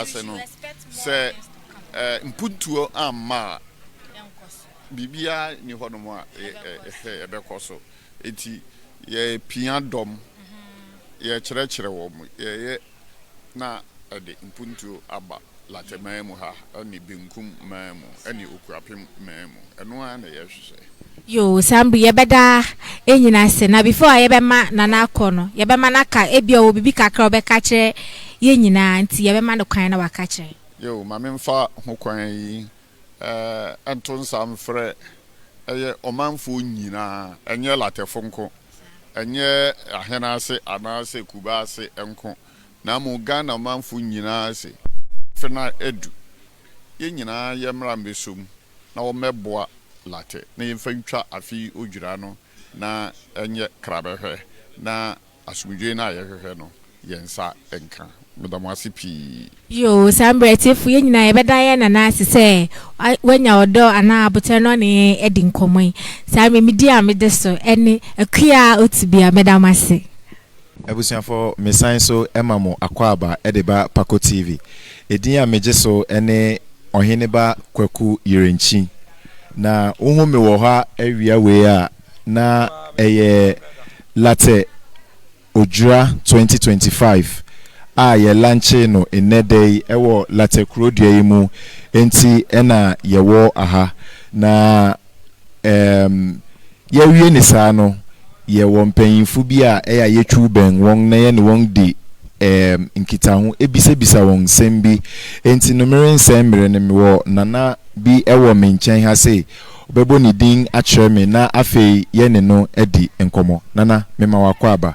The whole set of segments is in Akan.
ase no, sɛ mpuntuo amma a, biribiara nni hɔnom a ɛbɛkɔ so. Enti yɛpia dɔm, yɛkyerɛkyerɛ wɔn, yɛyɛ na ɛde mpuntuo aba Latɛmaa mu ha ne Benkum maa mu ne Okuapem maa mu. Ɛno ara na yɛhwehwɛ. Yoo saa mbre yɛbɛda ɛnyina ase na before a yɛbɛma Nana akɔ no yɛbɛma no aka ebia ɔwɔ bibi kakra a ɔbɛka akyerɛ yɛn nyinaa nti yɛbɛma no kwan na waka akyerɛ yɛn. Yoo ma me mfa ho kwan yi nto nsa mfrɛ ɛyɛ ɔmanfoɔ nyinaa ɛnyɛ Latɛfo nko ɛnyɛ Ahɛn ase anaa sɛ Kuba ase nko na mmom Ghana manfo nyinaa se afe no adu yɛn nyinaa yɛmmra mmɛsɔ mu na wɔmmɛboa Latte na yɛmfa ntwa afe yi odwira no na ɛnyɛ krabɛhwɛ na asomdwoe no a yɛhwehwɛ no yɛn nsa nka. Meda mo ase pii. Yoo, saa mmerɛ atiefo yɛn nyinaa yɛbɛda yɛn nana ase sɛ wanya ɔdɔ anaa aboterɛ na ɔne yɛn adi nkɔmmɔ yi. Saa mimidie a mede so ne Akua Otibia, meda mo ase. Abusuafo mesan so ma mo akwaaba de ba Pako TV. Edin a megye so ne Ɔheneba Kwaku Yerenkyi. Na wohu me wɔ hɔ a awia wei a na ɛyɛ Latte Odwira 2025 a yɛ lankyee no nnɛ da yi wɔ Latte Kurodua yi mu nti na yɛwɔ aha. Na Ɛɛm, yɛawie ne saa no, yɛwɔ mpanyimfo bi a ɛyɛ a yetwiw bɛn wɔn na yɛne wɔn di ɛɛm nkitaho, bisabisa wɔn nsɛm bi. Enti no merensɛe mmere no, mewɔ nana bi wɔ me nkyɛn ha sei. Ɔbɛbɔ ne din akyerɛ me na afei yɛne no adi nkɔmmɔ. Nana, mema w'akwaaba.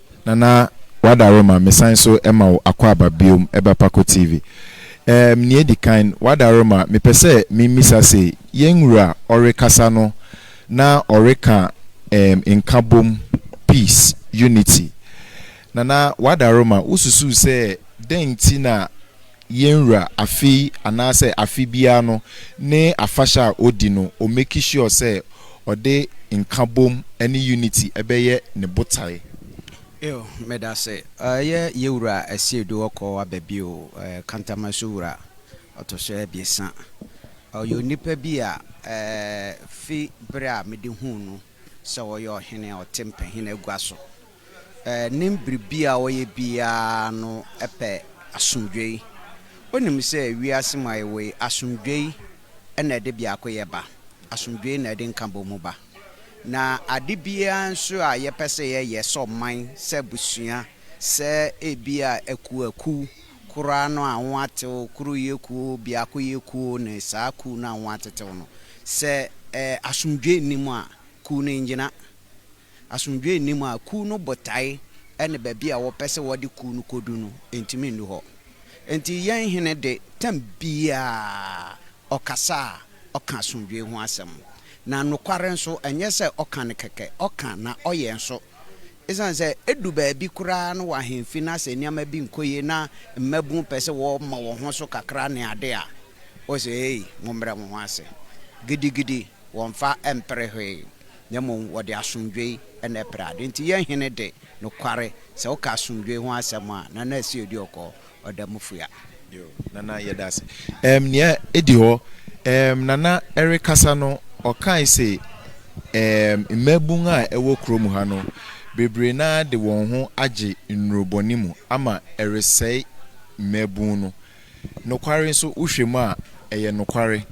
Nana Wadare ma me san so ma wo akwaaba biom ɛba Pako TV. Erm nea edi kan Wadare ma me pɛ sɛ me mmisa se yɛn wura ɔrekasa no na ɔreka erm nkabom, peace, unity. Nana Wadare ma wo susu sɛ dɛn nti na Yɛn Wura afe yi anaasɛ afe biara no ne afahyɛ a ɔdi no, ɔ make sure sɛ ɔde nkabom ne unity bɛyɛ ne botae. Eo, medase. Ɛyɛ Yɛn Wura Asiedu Ɔkɔ aba bio, Kantamaso Wura, ɔtɔso abiɛsa. Ɔyɛ onipa bi a fi bere a mede huu no sɛ ɔyɛ ɔhene a ɔte mpahin agua so Ɛnnim biribi a ɔyɛ biara no pɛ asomdwoe. Onim sɛ wiase mu a yɛwɔ yi, asomdwoe na ɛde biakoyɛ ba, asomdwoe na ɛde nkabɔmu ba. Na ade biara nso a yɛpɛ sɛ yɛyɛ, sɛ ɔman, sɛ abusua, sɛ ebia akuwakuw, koraa no a wɔatew, koroyɛ kuo, biakoyɛ kuo ne saa kuw no a wɔatetew no, sɛ asomdwoe nni mu a, kuw no nnyina. asomdwoe nnim a, kuw no botae ne baabi a wɔpɛ sɛ wɔde kuw no kodu no, entumi nnu hɔ. Enti yɛn Hene de, tɛm biara ɔkasa a, ɔka asomdwoe ho asɛm. Na nokware nso, ɛnyɛ sɛ ɔka no kɛkɛ, ɔka na ɔyɛ nso. Esiane sɛ edu baabi koraa no wɔ ahemfi no ase nneɛma bi nkɔ yie na mmabun pɛ sɛ wɔma wɔn ho so kakra ne ade a, ose, Ei, mommrɛ mo ho ase gidigidi, wɔmfa mpere hwee. na mmom wɔde asomdwoe na ɛpere ade. Enti yɛn Hene de, nokware, sɛ woka asomdwoe ho asɛm a, na na ɛsɛ odi ɔkɔ, ɔda mu fua. Yoo, Nana, yɛda ase. Ɛɛm, nea edi hɔ, ɛɛm, Nana rekasa no, ɔkae se, ɛɛm, mmabun a ɛwɔ kurom ha no, bebree no ara de wɔn ho agye nnurubɔne mu ama ɛresɛe mmabun no. Nokware nso, wohwɛ mu a, ɛyɛ nokware.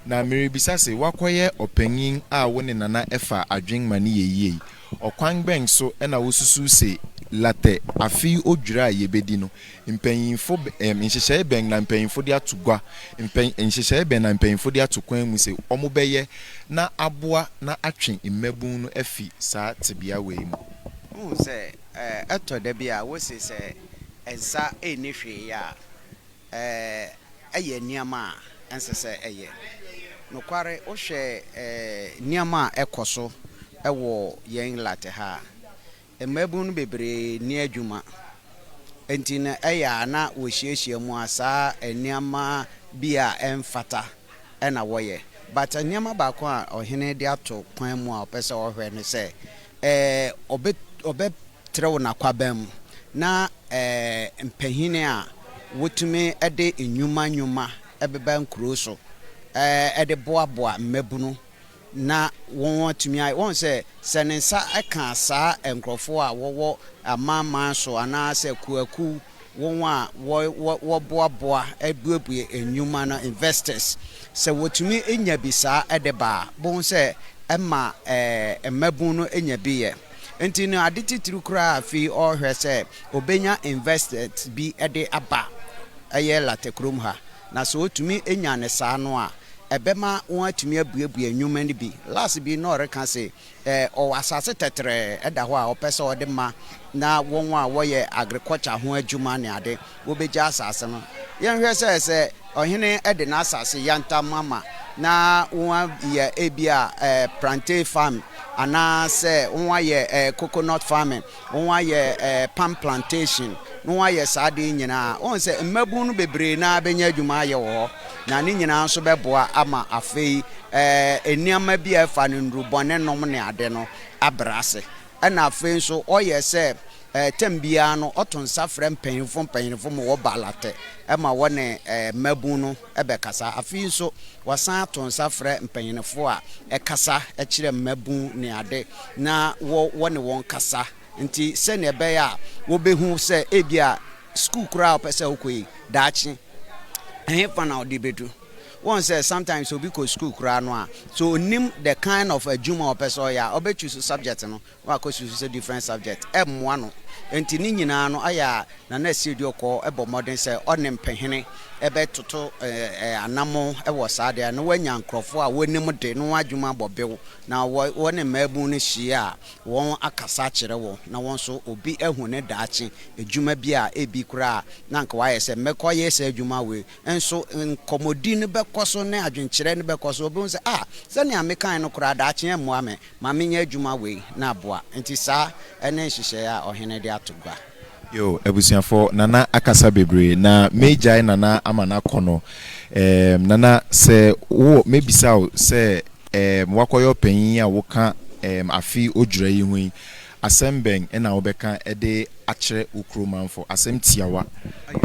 Na merebisa se, woakɔyɛ ɔpanyin a wo ne Nana ɛfa adwene ma no yɛ yie yi, ɔkwan bɛn so na wosusuw se Latɛ afe yi odwira a yebedi no, mpanyimfo bɛ, nhyehyɛe bɛn na mpanyimfo de ato gua, mpɛ, nhyehyɛe bɛn na mpanyimfo de ato kwan mu se wɔbɛyɛ na aboa na atwe mmabun no afi saa tebea wei mu? Wohu sɛ, ɛtɔ da bi a, wose sɛ. nsa nni hwee yɛ a, ɛyɛ nneɛma a ɛnsɛ sɛ ɛyɛ. Nokware, wohwɛ nneɛma a ɛkɔ so wɔ yɛn lat ha a, mmabun no bebree nni adwuma. Enti no, ɛyɛ a na wɔhyiahyia mu a, saa nneɛma bi a ɛmfata na wɔyɛ but nneɛma baako a ɔhene de ato kwan mu a ɔpɛ sɛ ɔhwɛ ne sɛ ɔbɛ ɔbɛtrɛw n'akwaban mu na mpanyin a wotumi de nnwuma nnwuma bɛba nkurow so de boaboa mmabunu na wɔatumi ayɛ. Woahu sɛ, sɛ ne nsa ka saa nkurɔfoɔ a wɔwɔ amanaman so anaa sɛ akuakuo, wɔn a wɔboaboa buebue nnwuma no, investors, sɛ wɔtumi nya bi saa de ba a, bohu sɛ ɛma mmabunu no nya bi yɛ. Nti no, ade titiri koraa a afei ɔrehwɛ sɛ ɔbɛnya investors bi de aba ɛyɛ Latte kurom ha. Na sɛ wotumi nya no saa no a, ɛbɛma wɔatumi abuebue nnwuma no bi. Lars bi na ɔreka se, ɔwɔ asase tɛtrɛɛ ɛda hɔ a ɔpɛ sɛ ɔde ma na wɔn a wɔyɛ agriculture ho adwuma ne ade, wobegye asase no. Yɛnhwɛ sɛ, sɛ ɔhene de n'asase yantam ama na wɔayɛ ebia plantain farming anaasɛ wɔayɛ coconut farming na wɔayɛ palm plantation, na wɔayɛ saa ade yi nyinaa a, wohu sɛ mmabun no bebree no ara bɛnya adwuma ayɛ wɔ hɔ, na ne nyinaa nso bɛboa ama afei nneɛma bi a ɛfa no nnurubɔnenom ne ade no abrɛ ase. Ɛnna afei nso, ɔyɛ sɛ tɛm biara no, ɔto nsa frɛ mpanyimfo mpanyimfo ma wɔba alate ma wɔne mmabun no. bɛkasa. Afei nso, wɔasan ato nsa frɛ mpanyinfo a ɛkasa kyerɛ mmabun ne ade na wɔ wɔne wɔn kasa nti sɛnea ɛbɛyɛ a wɔbehu sɛ ebia sukuu koraa a wɔpɛ sɛ wɔkɔ yi daakye ɛhefa na wɔde bedu. Wɔn sɛ sometimes obi kɔ sukuu koraa no a, so onim the kind of adwuma a ɔpɛ sɛ ɔyɛ a, ɔbɛtwi so subject no na wakɔ susu sɛ different subject ɛmmoa no nti ne nyinaa no ayɛ a Nana Asieduokɔɔ bɔ mmɔden sɛ ɔne mpehene bɛtoto anamɔn wɔ saa adeɛ a na wanya nkorɔfoɔ a wɔnim de no ho adwuma abɔ bew na wɔne mmaabunu no hyia a wɔn akasa akyerɛ wɔn na wɔn nso obi ahu ne daakye adwuma bi a ebi koraa na anka wayɛ sɛ mɛkɔyɛ saa adwuma wei nso nkɔmmɔdi no bɛkɔ so ne adwenkyerɛ no bɛkɔ so obi hu sɛ ah sɛnea mekae no koraa daakye ɛmmoa me Ma menyɛ adwuma wei na aboa. Nti saa ne nhyehyɛeɛ a ɔhene de ato gua. Yoo abusuafoɔ Nana akasa bebree na mɛgyae Nana ama no akɔ no eem Nana sɛ wo mɛbisa wo sɛ eem woakɔyɛ ɔpanyin yi a woka eem afe odwira yi ho yi asɛm bɛn na wobɛka de akyerɛ wo kuro manfo asɛm tiawa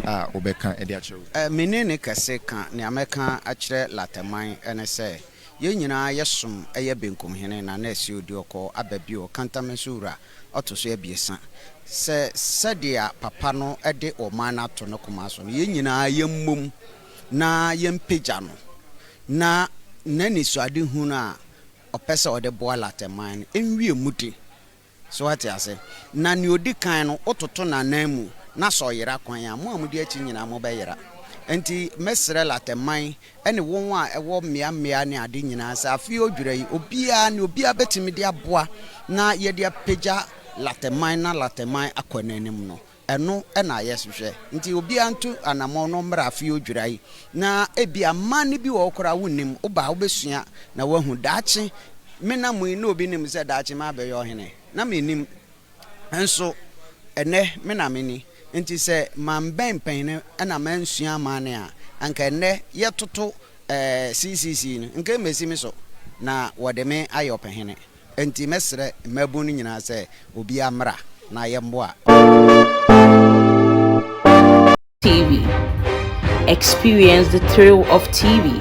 a wobɛka de akyerɛ wo kuro. Me ne ne kɛse ka nea mɛka akyerɛ Latɛman ne sɛ. Yɛn nyinaa yɛsom yɛ benkum hene Nana Asio Duokɔɔ aba bio Kantame so wura ɔto so abiɛsa Sɛ sɛdeɛ papa no de ɔman no ato ne koma so no yɛn nyinaa yɛmmom na yɛmpagya no na n'anisoadehunu a ɔpɛ sɛ ɔde boa Latɛnman no nwie mu den. So woate ase? Na nea odi kan no, wototo n'ananmu, na sɛ ɔyera kwan a, mo a mudi akyi nyinaa mobɛyera. Enti mɛsrɛ Latte-man ne wɔn a ɛwɔ mmeammea ne ade nyinaa sɛ afei odwira yi, obiara, nea obiara betumi de aboa na yɛde apagya Latte-man na Latte-man akɔ n'anim no, Ɛno na yɛhwehwɛ. Nti obiara ntu anammɔn na ɔmmra afei odwira yi. Na ebia mma no bi wɔ hɔ koraa a wonnim. Woba a wobɛsua na woahu. Daakye me nna mu yi na obi nim sɛ daakye mabɛyɛ ɔhene? Na mennim. Nso ɛnnɛ me na meni. Nti sɛ mambɛn mpanyin na mansua amanne a, anka ɛnnɛ yɛtoto CCC no, nka ɛmmɛsi me so na wɔde me ayɛ ɔpɛhene. Enti mɛsrɛ mmaabun no nyinaa sɛ obiara mmra na yɛmmoa ɔbaa no. TV, Experience the thrill of TV!